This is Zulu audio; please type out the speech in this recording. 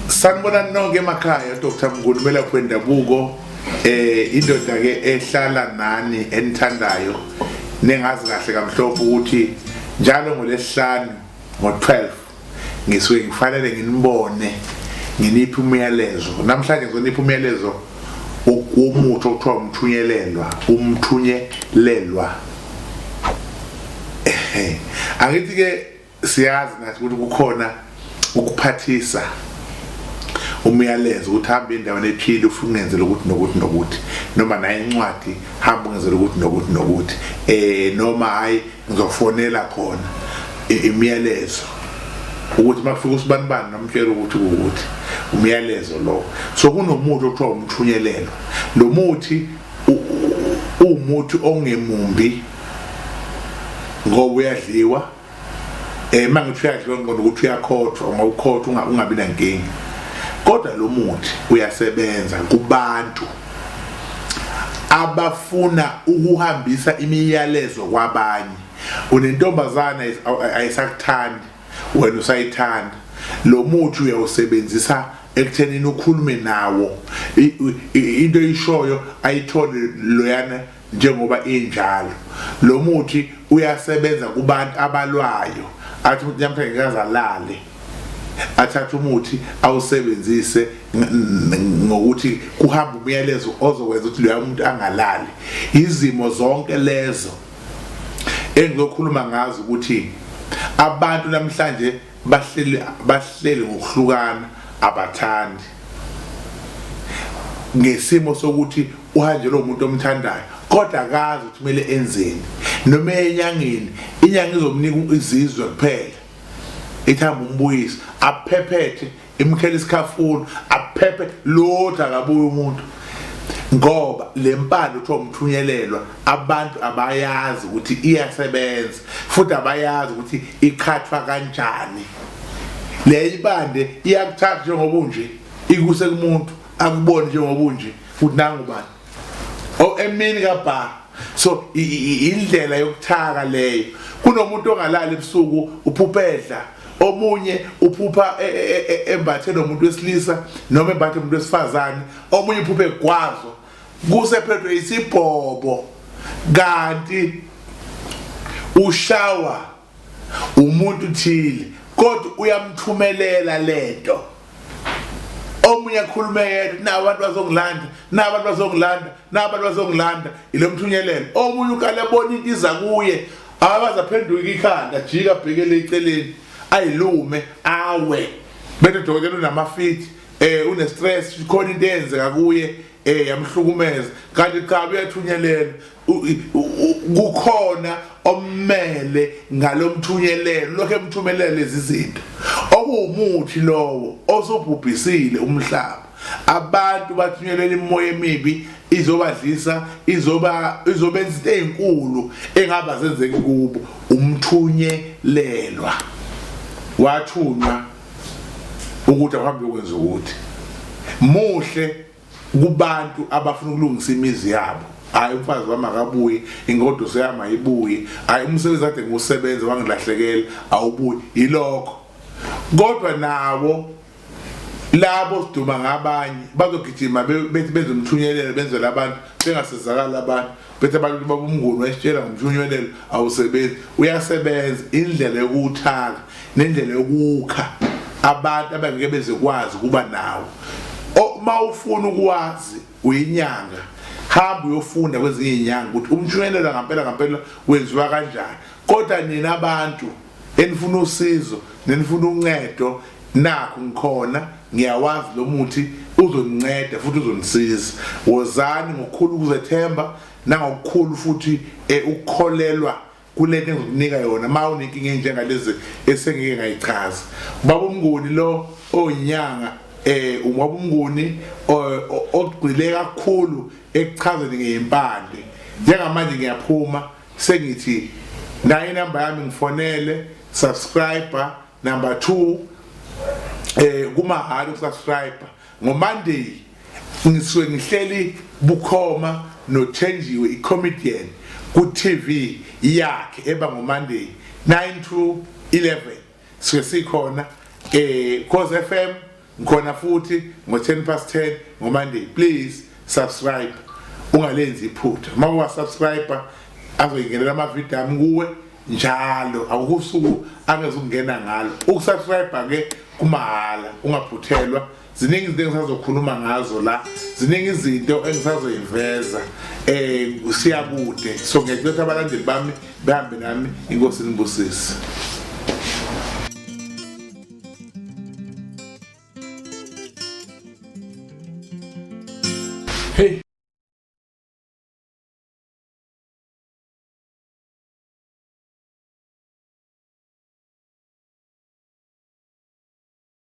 sanibona nonke emakhaya dr mnguni umelaphi wendabuko eh indoda-ke ehlala nani enithandayo ningazi kahle kamhlophe ukuthi njalo ngolesihlanu ngo-12 ngisuke ngifanele nginibone nginiphi umyalezo namhlanje ngizonipha umyalezo womuthi okuthiwa umthunyelelwa umthunyelelwa angithi ke siyazi nathi ukuthi kukhona ukuphathisa umyalezo ukuthi hamba endaweni ephile ufuna ungenzele ukuthi nokuthi nokuthi noma naye incwadi hamba ungenzele ukuthi nokuthi nokuthi eh noma hayi ngizofonela khona imiyalezo ukuthi makufika usibanibani nomtshela ukuthi ukuthi umyalezo lo so kunomuthi okuthiwa umthunyelelo lo muthi uwumuthi ongemumbi ngoba uyadliwa eh mangithi uyadliwa ngqondo ukuthi uyakhothwa ngokukhothwa ungabi nankingi kodwa lo muthi uyasebenza kubantu abafuna ukuhambisa imiyalezo kwabanye unentombazana ayisakuthandi wena usayithanda lo muthi uyawusebenzisa ekuthenini ukhulume nawo into eyishoyo ayithole loyana Njengoba injalo, lo muthi uyasebenza kubantu abalwayo, athi umuntu namhlanje ngikaze alale athathe umuthi awusebenzise ngokuthi kuhamba umyalezo ozokwenza ukuthi loya umuntu angalali izimo zonke lezo engizokhuluma ngazo ukuthi abantu namhlanje bahleli bahleli ngokuhlukana abathandi ngesimo sokuthi uhanjelwa umuntu omthandayo kodwa akazi ukuthi kumele enzeni noma enyangeni inyanga izomnika izizwe kuphela ithamba umbuyisi aphephethe imkhela isikhafulo aphephe lothu akabuye umuntu ngoba le mpande kuthiwa umthunyelelwa abantu abayazi ukuthi iyasebenza futhi abayazi ukuthi iqhathwa kanjani le ibande iyakuthatha njengoba unje ikuse kumuntu akuboni njengoba unje ukuthi nangu bani o emini ka bar so indlela yokuthaka leyo kunomuntu ongalala ebusuku uphupedla omunye uphupha e, e, e, embathe nomuntu wesilisa noma embathe umuntu wesifazane omunye uphuphe egwazo kusephethwe isibhobo kanti ushawa umuntu thile kodwa uyamthumelela lento omunye akhulume yedwa na abantu bazongilanda na abantu bazongilanda na abantu bazongilanda ilo mthunyelelo omunye ukale bona into iza kuye abaza phenduka ikhanda jika bhekele eceleni ayilume awe bese dokotela unamafiti eh une stress khona into eyenzeka kuye eh yamhlukumeza kanti cha uyathunyelelwa kukhona ommele ngalomthunyelelo lokho emthumelela lezi zinto okuwumuthi lowo osubhubhisile umhlaba abantu bathunyelele imoya emibi izobadlisa izoba izobenza into ezinkulu engaba zenzeki kubo umthunyelelwa wathunywa ukuthi ahambe ukwenza ukuthi muhle kubantu abafuna ukulungisa imizi yabo hayi umfazi wami akabuye ingoduso yami ayibuye hayi umsebenzi kade ngiwusebenza wangilahlekela awubuye yilokho kodwa nabo labo siduma ngabanye bazogijima bethi bezomthunyelela benzela abantu bengasizakala abantu Bethe abantu baba umnguni wayesitshela ngomshunyelelo awusebenzi uyasebenza indlela yokuwuthaka nendlela yokukha abantu abangeke bezekwazi kuba nawo uma ufuna ukwazi uyinyanga hamba uyofunda kwezinye izinyanga ukuthi umshunyelelo ngampela ngampela wenziwa kanjani kodwa nina abantu enifuna usizo nenifuna uncedo nakho ngikhona ngiyawazi lo muthi uzoninceda futhi uzonisiza wozani ngokukhulu ukuzethemba nangokukhulu futhi eh, ukukholelwa kule nto engizokunika yona uma unenkinga enjengalezi esengike ngayichaza ubaba umnguni lo onyanga eh uma ubunguni ogcile kakhulu ekuchazeni ngempande njengamanje ngiyaphuma sengithi nayo inamba yami ngifonele subscriber number 2 eh kumahhala ukusubscribe ngomonday ngisuke ngihleli bukhoma nothenjiwe icomedian ku-tv yakhe eba ngomonday 9 to 11 Sike sikhona eh Khosi FM ngikhona futhi ngo 10 past 10 ngo Monday please subscribe ungalenzi iphutha uma uwa subscriber azoyingenela ama video ami kuwe njalo awukusuku angezukungena ngalo ukusubscribe ke kumahhala ungaphuthelwa ziningi izinto engisazokhuluma ngazo la ziningi izinto engisazoyiveza eh siyakude so ngiyacela ukuthi abalandeli bami behambe nami inkosi nibusise Hey